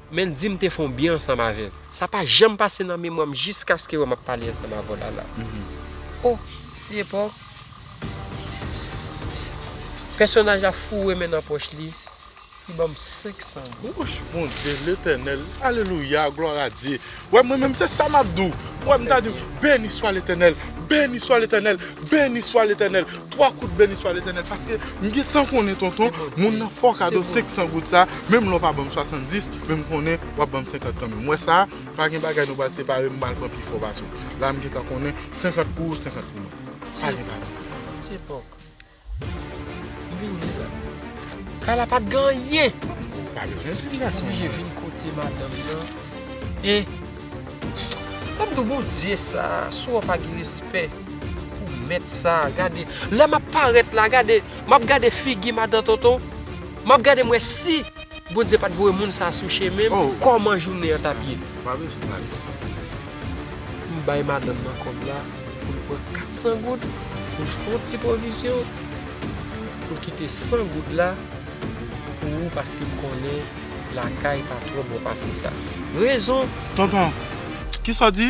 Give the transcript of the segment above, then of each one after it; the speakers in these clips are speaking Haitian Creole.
Men dim te fon byen ansanm avèl. Sa pa janm pase nan memwa m jiskaske wè map pale ansanm avèw lala oh ti epòk Pèsonaj la foure men nan pòch li Li banm 500 goud. Wouch Bondye letènèl alelouya glwaradye Wè mwen menm se sa map di w wè m ta di w beni swa letènèl beni swa letènèl beni swa letènèl 3 kout beni swa letènèl paske m gentan konnen tonton moun nan fè w kado 500 goud sa menm lè w pa ban m 70 men m konnen wap ban m 50 kanmenm wè sa pa gen bagay nou pral separe m mal pran pi fò pase w la m gentan konnen 50 pou ou 50 pou mwen sa gen pa gen. Kay la pat gen anyen. Oblije vin kote madanm nan. E Mwen mdi w Bondye sa si w wè w pa gen respè pou mèt sa gade lè map parèt la gade map gade figi madan tonton map gade m wè si Bondye pat voye moun sa sou chemen m kòman jounen an tap ye. M bay madanm nan kòb la pou l pran 400 goud pou l fon ti pwovizyon pou l kite 100 goud la pou ou paske m konnen lakay pa twò bon pase sa. Rezon. Tonton, kisa w di?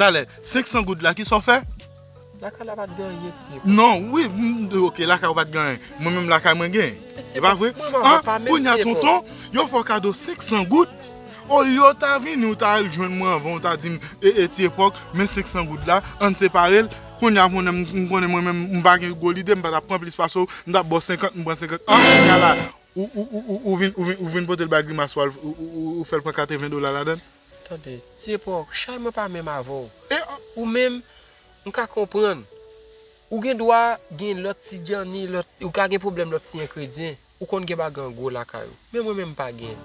Talè, 500 goud la kisa w fè? Lakay la pat gen anyen ti epa. Non, wi, ok lakay ou pat gen anyen. Mwen menm lakay mwen gen. E pa vre? Mwen pa pa menm ti epa. Kounya tonton, yo fè w kado 500 goud, olye w ta vini ou ta al jwenn mwen anvan ou ta di m, e e ti epa, men 500 goud la, ann separe l, kounya m konnen m konnen mwen menm m pa gen gwo lide, m pa ta pran plis pase w, m ta ba w 50, m pran 50, an kounya la ou vin ou vin pote l bay grimas ou al ou fè l pran 80 dola ladan l? Tande, Dieuport, chay mwen pa menm avè w. E ou menm, m ka konprann. Ou gen dwa gen lòt ti djanni, lòt, ou ka gen pwoblèm lòt ti enkredyen. Ou konn gen bagay an gwo lakay ou. Men mwen menm m pa gen.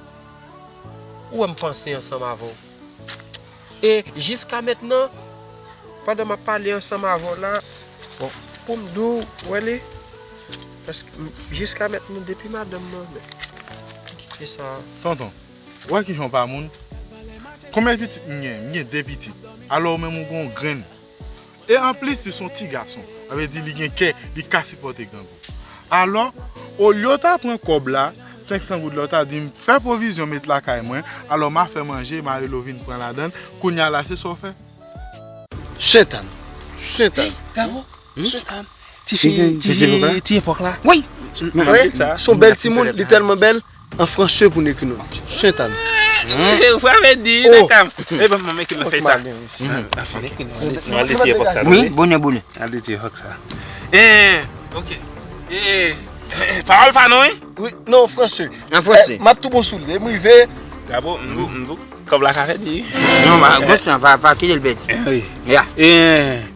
Ou wè m panse ansanm avè w. E jiskamètnan, pandan m ap pale ansanm avè w la, bon, pou m di w, ou wè li, èske, jiskamètnan depi madanm mwen, men, se sa. Tonton. Wè kijan w pa moun. Konbyen pitit m gen? M gen 2 pitit. Alò ou menm ou gen yon grenn. E anplis li se yon ti gason. Sa vle di li gen kè, li ka sipòte grangou. Alò, olye w ta pran kòb la, 500 goud la, ou ta di m, fè pwovizyon met lakay mwen, alò m a fè manje, marelo vin pran ladan l, kounye a la se sa w fè? Sentann! Sentann! Ti epòk la Woy Son bèl ti moun Li tèlman bèl An franse pou nou ekri non li Sentann Bonè bonè Pawòl pa nou Non an franse M ap tou bon sou li M rive Kòb la ka fèt di Kite l fèt di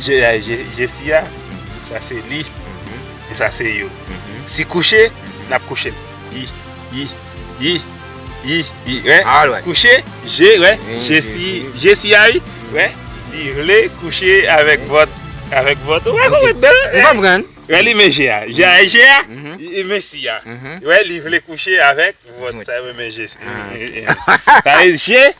Je si a, sa se li, e sa se yo. Si kouche, n ap kouche. I, i, i, i, i, wè. Kouche, je, wè. Je si, je si a, i, wè. Li vle kouche avèk vòt, avèk vòt. Ou pa konprann nan? M konprann. Wè li men je a. Je a e je a, e men si a. Wè li vle kouche avèk vòt. Sa e men je si a. Sa e je.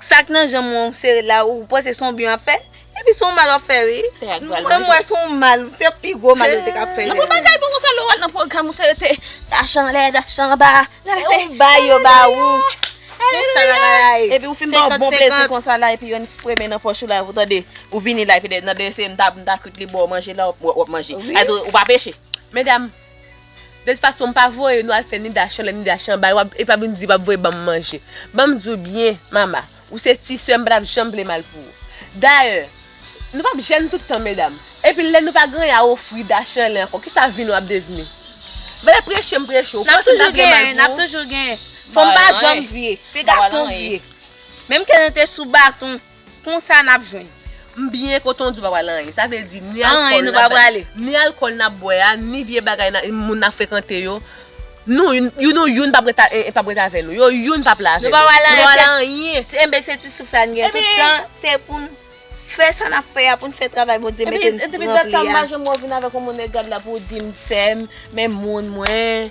Sak nan janm ou an ou sere la ou panse son byen wap fè epi son mal wap fè wi mwen wè son mal se pi gwo mal ou te ka fè. Nan pou bagay bon konsa lè ou al nan pwogram ou sere te tach anlè tach anba ou bay yo ba ou men sa la la ye epi ou fin ba ou bon plezi konsa la epi yon fremen nan pòch ou la ou tande ou vini la epi nan desen mta kout li ba ou manje la wap manje ou pa peche. Medam. De tout fason mpa voye nou al fè ni dachan lè ni dachan bay wap epa vin di wap voye banm manje banm diw byen mama ou se ti sèm mpatap janm vle mal pou ou dayè nou pap jèn tout tan medam epi lè nou pa gen anyen a ofri dachanlè ankò kisa vi nou ap devni vle preche mpreche ou panse mtap gen mal pou ou nap toujou gen nap toujou gen fanm pa janm vye se gason vye menm ke nou te sou baton. Konsa nap jwenn. M byen kontan w di w pa pral anyen. Sa vle di ni alkòl ni alkòl nap bwè a, ni vye bagay moun nan frekante yo, nou youn ou youn pap ret avè nou. Yo youn pap la avè nou. Nou pa pral anyen. Enben se ti souf la n gen tout tan, se pou n fè sa nap fè a, pou n fè travay Bondye mete n pou ranpli a. Epi dat sa m pa janm wè w vin avèk yon monnè gad la pou w di m sè m, men moun mwen.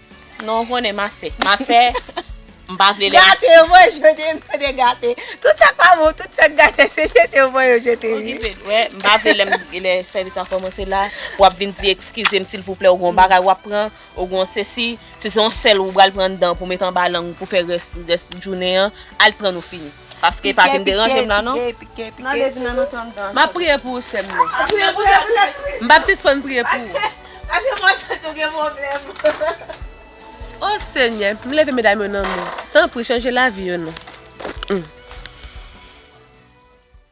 Non ou konnen m ase. M ase, m pa vle lè. Gate yo voye jete m tande gate. Tout sa k pa bon, tout sa k gate se jete yo voye yo jete wi. Okipe l. Wè, m pa vle lè m, lè sèvis la kòmanse la, w ap vin di ekskize m silvouplè ou gen yon bagay w ap pran, ou gen yon sesi, si se yon sèl ou pral pran anndan pou met anba lang ou pou fè rès, rès jounen an, al pran l ou fini. Paske pa vin deranje m la non. M ap priye pou ou sè m nan. M p ap sispann priye pou ou. O senyè m leve medam yo nan non. Tanpri chanje lavi yo non.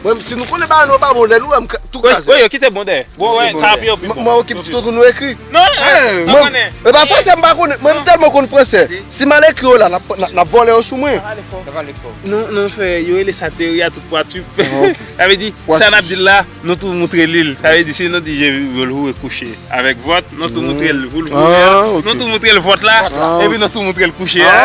Mwen si nou konnen bagay nou yo pa bon lè nou wèm tou kraze. Woy yo kite bon dèyè. Bon wè sa pi yo pi bon. Mwen okip ti tòt ou nou ekri. Non e sa konnen. E pa fransè mpa konnen mwen m tèlman konn fransè si mal ekri yo la nap vòlè yo sou mwen. Non non fè yo rele sa teori a tout pwa tu p. Sa vle di sa nap di la nou tou moutre lil sa vle di si nou di je vulhu e kouche avèk vòt nou tou moutrel vulvu e a nou tou moutrel vòt la epi nou tou moutrel kouche a.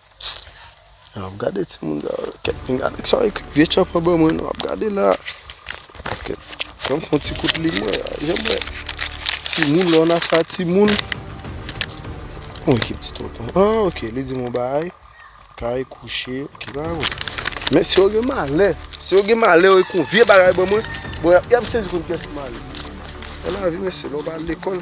Psst ap gade ti moun sa yo kèt pinga nèg sa yo ekri vye tchòpè ban mwen non ap gade la ok fèm fon ti kout li mwen janm wè ti moun lè w nan afè a ti moun on ekip ti tonton an ok li di m on bagay kay kouche ok m pa konn men si yo gen malè si yo gen malè yo ekri on vye bagay ban mwen bon y ap sezi konn kiyès ki malè se lavi mesye lè w pa al lekòl.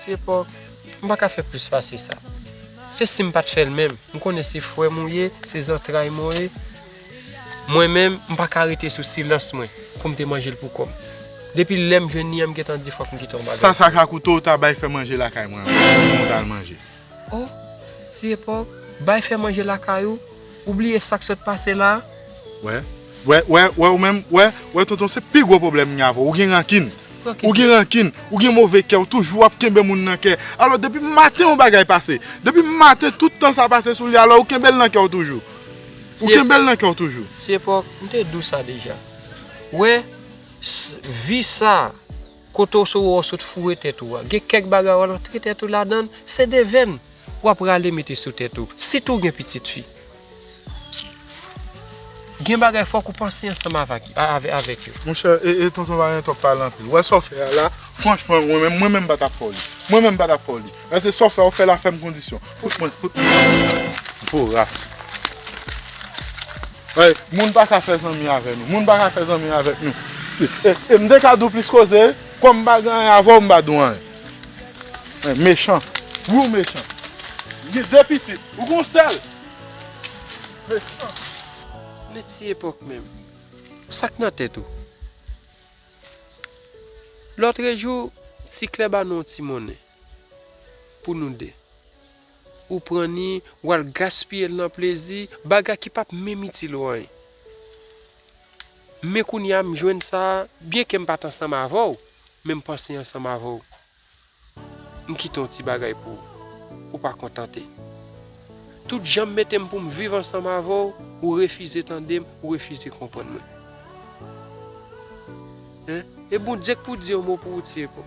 Ti epòk, m pa ka fè plis pase sa. Se si m pa t fè l menm. M konnen se frè m ou ye, se zantray m ou ye. Mwen menm, m pa ka rete sou silans mwen pou m te manje l pou kò m. Depi lè m jwenn li an, m gentan di fòk m kite yon bagay pou li. Sa sa ka koute w ta bay fè manje lakay mwen anvan pou mwen ta al manje. Oh ti epòk bay fè manje lakay ou ou bliye sak sot pase la. Wè wè wè wè ou menm wè wè tonton se pi gwo pwoblèm mwen gen avèw ou gen rankin ou gen rankin ou gen move kè ou toujou ap kenbe moun nan kè alò depi maten yon bagay pase depi maten tout tan sa pase sou li alò ou kenbel nan kèw toujou ou kenbel nan kèw toujou. Ti epòk m te diw sa deja wè vi sa. Kote w sou ou sot foure tèt ou a, gen kèk bagay w al antre tèt ou ladan l, se devenn w ap rale mete sou tèt ou, sitou w gen pitit fi. Gen bagay fòk ou panse ansanm avèk yo. Monchè e tonton valentin wap pale anpil wè sa w fè a la franchman mwen menm mwen menm m pa tap fè w li mwen menm m pa tap fè w li Nan se saw fè ou fè la fèm kondisyon fout mwen fout mwen voras Hey moun paka fè zanmi avè nou moun paka fè zanmi avèk nou e mte ka diw plis koze kòm mpa gen anyen avèw mpa diw anyen Hey mechan wi ou mechan ou gen 2 pitit ou gen yon sèl mechan. Men ti epòk menm sak nan tèt ou Lotrejou ti klè ba nou yon ti monnen Pou nou de. Ou pran ni, ou al gaspiye l nan plezi, bagay ki pap menm itil ou anyen. Men kounye a m jwenn sa, byenke m pa t ansanm avè w, men m panse ansanm avè w. M kite yon ti bagay pou ou. Ou pa kontante. Tout jan m mete m pou m viv ansanm avè w, ou refize tande m, ou refize konprann mwen. E Bondye k pou di yon mo pou ou, Tyeko?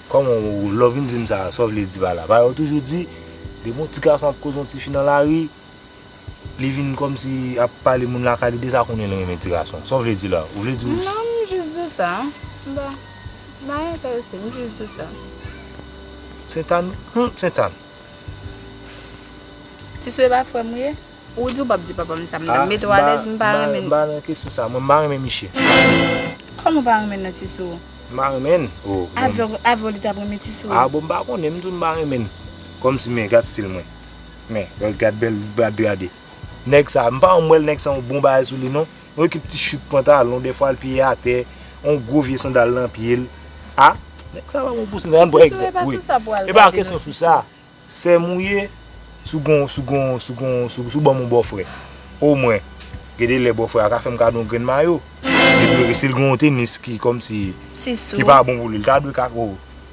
Kòman ou lè w vin di m sa a, sa w vle di pa la? Pa yo toujou di, depi yon ti gason ap koze yon tifi nan lari, li vin kòmsi ap pale moun lakay li deja konnen li renmen ti gason. Sa w vle di la? Ou vle di ou. Non, m jis di w sa. M pa nan enterese, m jis di w sa. Sentàn, hum Sentàn! Ti sou e pa frè m ou ye? Ou di ou pap di papa m sa m ta met ou alèz m pa renmen M pa nan kesyon sa mwen m pa renmen miche. Kòman ou pa renmen nan ti sou ou. M pa renmen oh bon. Avè w li tap renmen ti sou ou. Ah bon m pa konnen m di w m pa renmen kòmsi men gad stil mwen men gad bèl bra de a de nèg sa m pa janm wè l nèg sa yon bon bagay sou li non yon ekip ti chut pantalon dèfwa l piye atè yon gwo vye sandal nan pye l ah nèg sa pa bon pou ti sou ou. Ti sou e pa sou sa pou al gade nan ti sou. Sèm ou ye sou gon sou gon sou gon sou sou banm on bòfrè o mwen gede lè bòfrè a ka fèm kado on grenn mayo depi ok sil gen on tenis ki kòmsi ki pa bon pou li li ta dwe ka o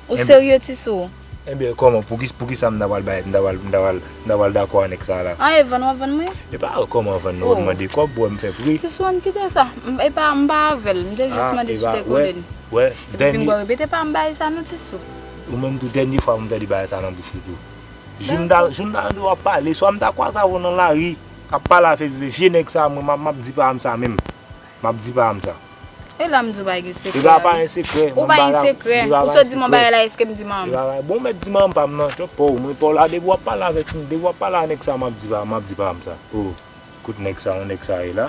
Ou serye ti sou? Enben kòman pouki poukisa m ta pral bay m ta pral m ta pral m ta pral dakò a nèg sa la? An e vann wap vann mwen? Epa kòman vann non ou mande kòb pou wè m fè pri. Ti sou ann kite sa epa m pa avèl m te jis mande si w te konnen li epi m pa repete pa m bay sa non ti sou. Ou menm tou dènye fwa pou m tande bagay sa nan bouch ou tou. Jou m ta jou m ta tande w ap pale, swa m ta kwaze avè w nan lari, k ap pale afè viv e vye nèg sa mwen m ap di pa m sa menm. M ap di pa m sa. E la m di w pa gen sekrè a. E la pa gen sekrè. Ou pa gen sekrè. Ou sot di m yon bagay la eske m di man m. Bon ou mèt di man m pa m nan. Twòp pa w. Mwen pa w la depi w ap pale avè ti depi w ap pale a nèg sa m ap di pa m sa. O kote nèg sa yon nèg sa ye la.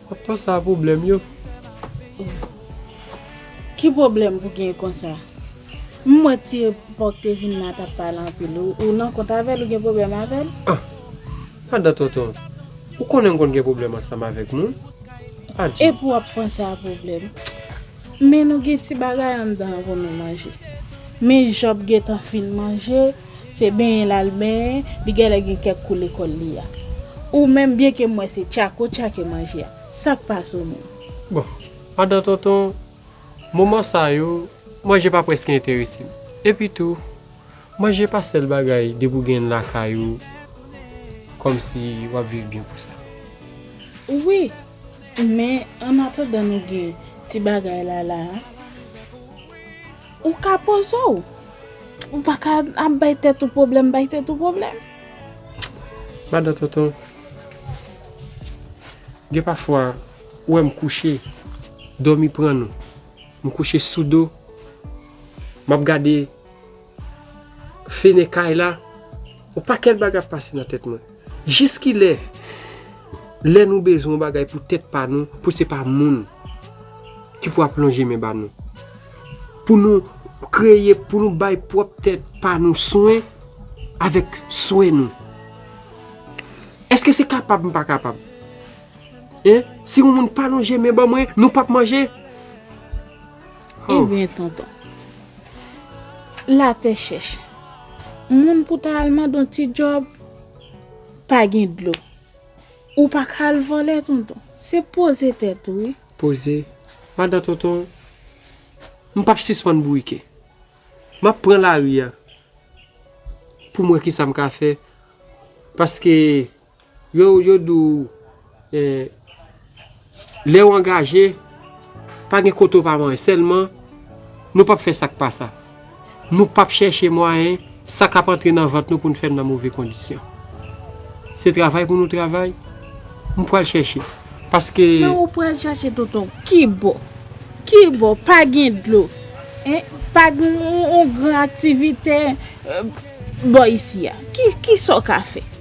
Wap panse a pwoblèm yo. Ki pwoblèm pou gen konsa. M wè ti epòk te vin la tap pale anpil ou nan kont avèl ou gen pwoblèm avèl. Ah madan tonton ou konnen m konn gen pwoblèm ansanm avèk moun adje. Epi wap panse a pwoblèm. Men nou gen ti bagay anndan an pou nou manje. Men Job gentan fin manje Se benyen l al benyen, li gèlè gen kèk kou lekòl li a. Ou menm, byenke m wè se tchak ou tchake manje a, sa k pase ou menm? Bon, andan tonton, moman sa yo, manje pa prèske enterese m. Epitou, manje pa sèl bagay depi w gen l lakay ou kòmsi w ap viv byen pou sa. Wi, men annatandan nou gen ti bagay la la a, ou ka poze w. Ou pa ka ap bay tèt ou pwoblèm, bay tèt ou pwoblèm. Madan Tonton, gen pafwa ou wè m kouche, dòmi pran nou. M kouche sou do, m ap gade fenè kay la, yon pakèt bagay ap pase nan tèt mwen. Jis ki lè? Lè nou bezwen yon bagay pou tèt pa nou, pou se pa moun ki pou ap lonje men ba nou. Pou nou kreye, pou nou bay pwòp tèt pa nou swen avèk swè nou. Èske se kapab m pa kapab? Si yon moun pa lonje men ban mwen, nou pap manje? Ebyen tonton. Latè chèch. Moun pou ta al mande yon ti djòb, pa gen dlo. Ou pa ka al vòlè tonton. Se poze tèt ou wi. Poze. Madan tonton, m pap sispann bourike. M ap pran lari a pou m wè ki sa m ka fè. Paske. Yo di w lè w angaje, pa gen kote w pa manje. Sèlman, nou pap fè sa k pa sa. Nou pap chèche mwayen sa k ap antre nan vant nou pou n fè l nan move kondisyon. Se travay pou nou travay, m pral chèche. Paske. Men ou pral chèche tonton. Ki bò? Ki bò? Pa gen dlo. Pa gen yon gran aktivite bò isi a. Ki sa w ka fè?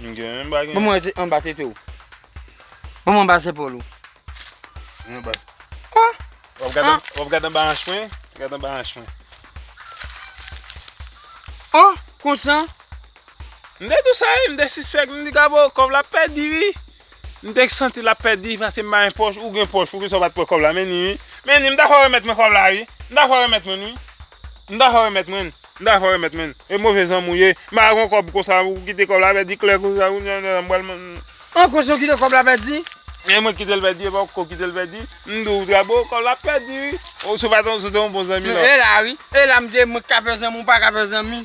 M gen menm bagen. Banm wè anba tete ou. Banm anba zepòl ou. Mwen anba. Ah! Wap gad anba, wap gad anba anch mwen? Gad anba anch mwen. Oh! Konsa? M de dousay, m de sispèk, m di Gabo, kòb la pèdi wi. M te santi lap pèdi pase m ba yon pòch, ou gen pòch ou gen sa ou pat pran kòb la men ni wi. Men ni m dakò remèt mwen kòb la wi, m dakò remèt mwen wi. M dakò remèt mwen, m dakò remèt mwen. E move zanmi ou ye, m pa gen yon kòb konsa ou kite kòb la pèdi klè konsa wi nan nan m pral m. An kòb sa ou kite kòb la pèdi? E mwen kite l pèdi e pa ou ko kite l pèdi, m di w tra bon kòb la pèdi wi. Ou se pa ta se te yon bon zanmi la. E la wi, e la m di mwen ka fè zanmi ou pa ka fè zanmi.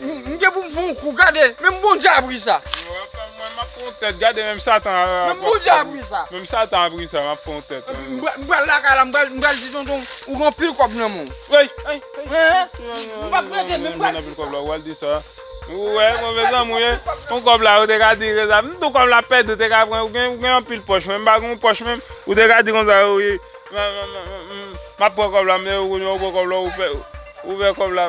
M gen pou m fè yon kou gade menm bondye ap ri sa. Mwen map fè yon tèt gade menm satan ap ri sa map fè yon tèt. M pral lakay la m pral di tonton ou gen anpil kòb nan menw. M pap rete menm m pral di sa. Ou al di sa. Ou wè move zanmi ou ye. Ou kòb la ou te ka di konsa. M tou kòm l ap pèdi ou te ka pran ou gen anpil pòch menm m pa gen yon pòch menm ou te ka di konsa wi. Map pran kòb la m depi ou konnen ou pran kòb la ou fè kòb la.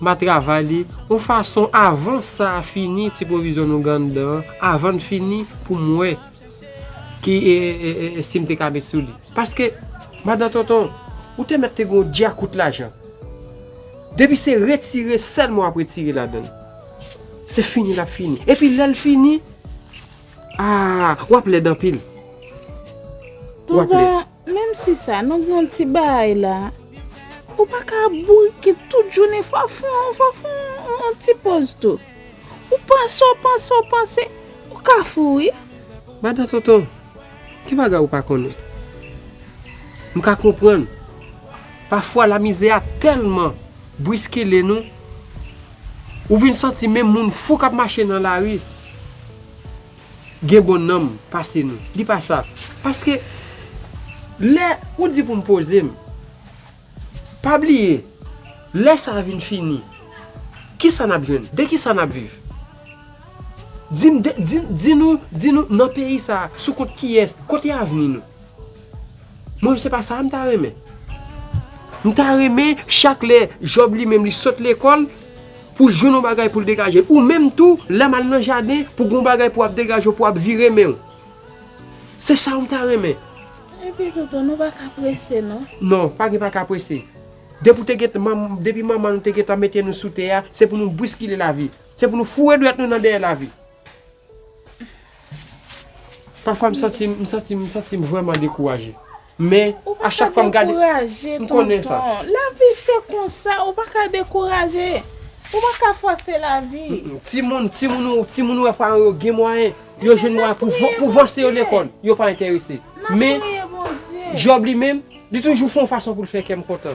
Ma travay li on fason avan sa a fini ti pwovizyon nou gen anndan an avan l fini pou m wè ki si m te ka met sou li. Paske Madan Tonton ou te mèt te gen on dyakout lajan. Depi se retire sèlman w ap retire ladan l. Se fini l ap fini. Epi lè l fini. Aah wap lèd anpil wap lèd. Tonton menm si sa nou gen yon ti baay la ou pa ka ap bourike tout jounen fwa fon fwa fon yon ti poz tou ou panse w panse w panse ou ka fou wi. Madan tonton ki bagay ou pa konnen m ka konprann pafwa lamizè a tèlman bwiskile nou. Ou vin santi menm moun fou k ap mache nan lari gen bon nanm pase nou. Di pa sa. Paske, lè ou di pou m poze m, pa bliye, lè sa a vin fini, ki sa n ap jwenn? De ki sa n ap viv? Di m, di nou, di nou nan peyi sa a, sou kont kiyès, kote avni nou? Mwen se pa sa m ta renmen. M ta renmen chak lè Job li menm li sot lekòl pou l jwenn yon bagay pou l degaje l. Ou menm tou, lè m al nan jaden pou gen yon bagay pou w ap degaje w, pou w ap vire men w. Se sa w ta renmen. Epi tou tou, nou pa ka prese non. Non, pa gen pa ka prese. Depi w te gen, depi manman nou te gentan mete nou sou tè a, se pou nou bwiskile lavi. Se pou nou foure dwèt nou nan dèyè lavi. Pafwa m santi m, m santi m, m santi m vrèman dekouraje. Men, a chak fwa m gade. Ou pa ka dekouraje, tonton. M konnen sa. Lavi se konsa, ou pa ka dekouraje. Ou pa ka fòse lavi. Timoun, timoun ou, timoun ou wè paran yo gen mwayen, yo jwenn mwayen pou vanse yo lekòl, yo pa enterese. Men, Djòb li menm, li toujou fè yon fason pou l fè kè m kontan.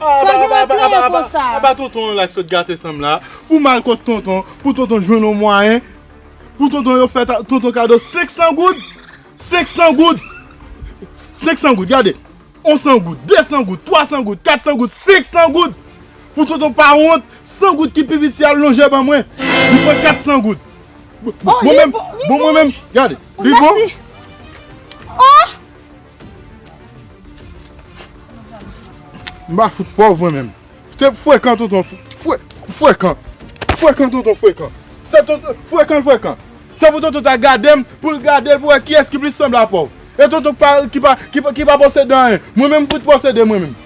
Aba tonton la ki sot gate sam la Pou mal kot tonton Pou tonton jwenn yon mwayen Pou tonton yo fè tonton kado 500 goud 500 goud 500 goud gade 100 goud 200 goud 300 goud 400 goud 500 goud Pou tonton pa wont 100 goud ki pi piti al lonje ban mwen Li pran 400 goud Bon mwen menm Bon mwen menm Gade Li bon Ohh M pa fout pòv mwen menm. Se frekan tonton frekan. Frekan tonton frekan. Se tonton frekan frekan. Se pou tonton ta gade m pou l gade l pou wè kiyès ki plis sanble a pòv. E tonton ki pa posede anyen. Mwen menm m fout posede mwen menm.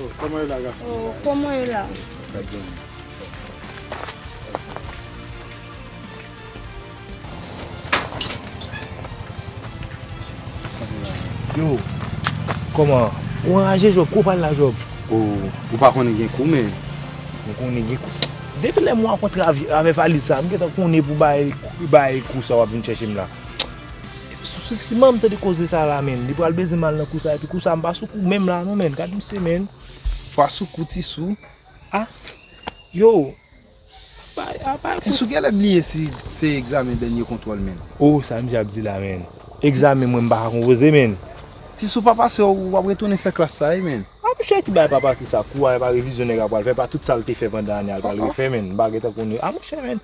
Oh kòman e la gason mwen. Oh kòman e la. Mwen byen wi. Yo kòman ou anraje Job kou pral la Job. Oh ou pa konnen gen kou men. Mwen konnen gen kou. Depi lè mwen rankontre avè valiz sa mwen gentan konnen pou bay kou sa wap vin chèche m la. Si manm tande koze sa la menn, li pral bezem al nan kou sa epi kou sa mpa sou kou menm la non menn, gad misye menn, fwa sou kou ti sou, ah yow, bay a bay. Ti sou genlè bliye si se egzamen dènye kontwòl menn. Oh sa misye ap di la menn, egzamen mwen mpaka konpoze menn. Ti sou pa pase ou wap retounen fè klas sa wi menn. Ah mouche ki bay pa pase sa, kou a epa revizyon nèg la pral fè, epa tout sal te fè pandan ane a l pral refè menn, mpa gentan konn, ah mouche menn.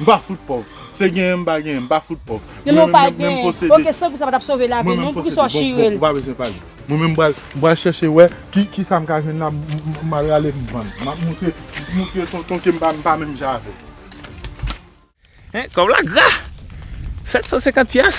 M pa fout pòv. Se genyen m pa genyen, m pa fout pòv. Genyen ou pa genyen, ok sekou sa pa t ap sove lavi nou, poukisa w chire l? Ou pa bezwen pale. Mwen menm m pral chèche wè kisa m ka jwenn la m al rale m vann. M ap montre tonton ke m pa menm jan avè l. Kòb la gra! 750 pyas!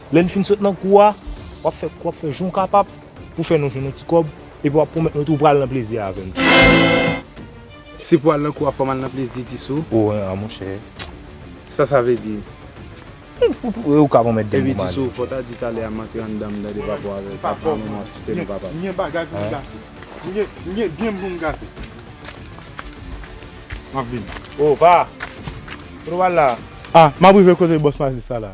Lè n fin sot nan kou a, w ap fè kou ap fè jan w kapab pou w fè nou jwenn yon ti kòb epi w ap pwomèt nou tou w pral nan plezi avè n. Si pou al nan kou a fò m al nan plezi ti sou. O en a monchè. Sa sa vle di? Ou ka pwomèt de m pou m ale. Epi ti sou, fò w ta di talè a m antre anndan m tande papa w avèk papa m ap site non papa m. M gen bagay pou m gate. M gen byen pou m gate. M ap vini. O pa! Kote w al la a? A! M ap rive kote bòs Malis la la.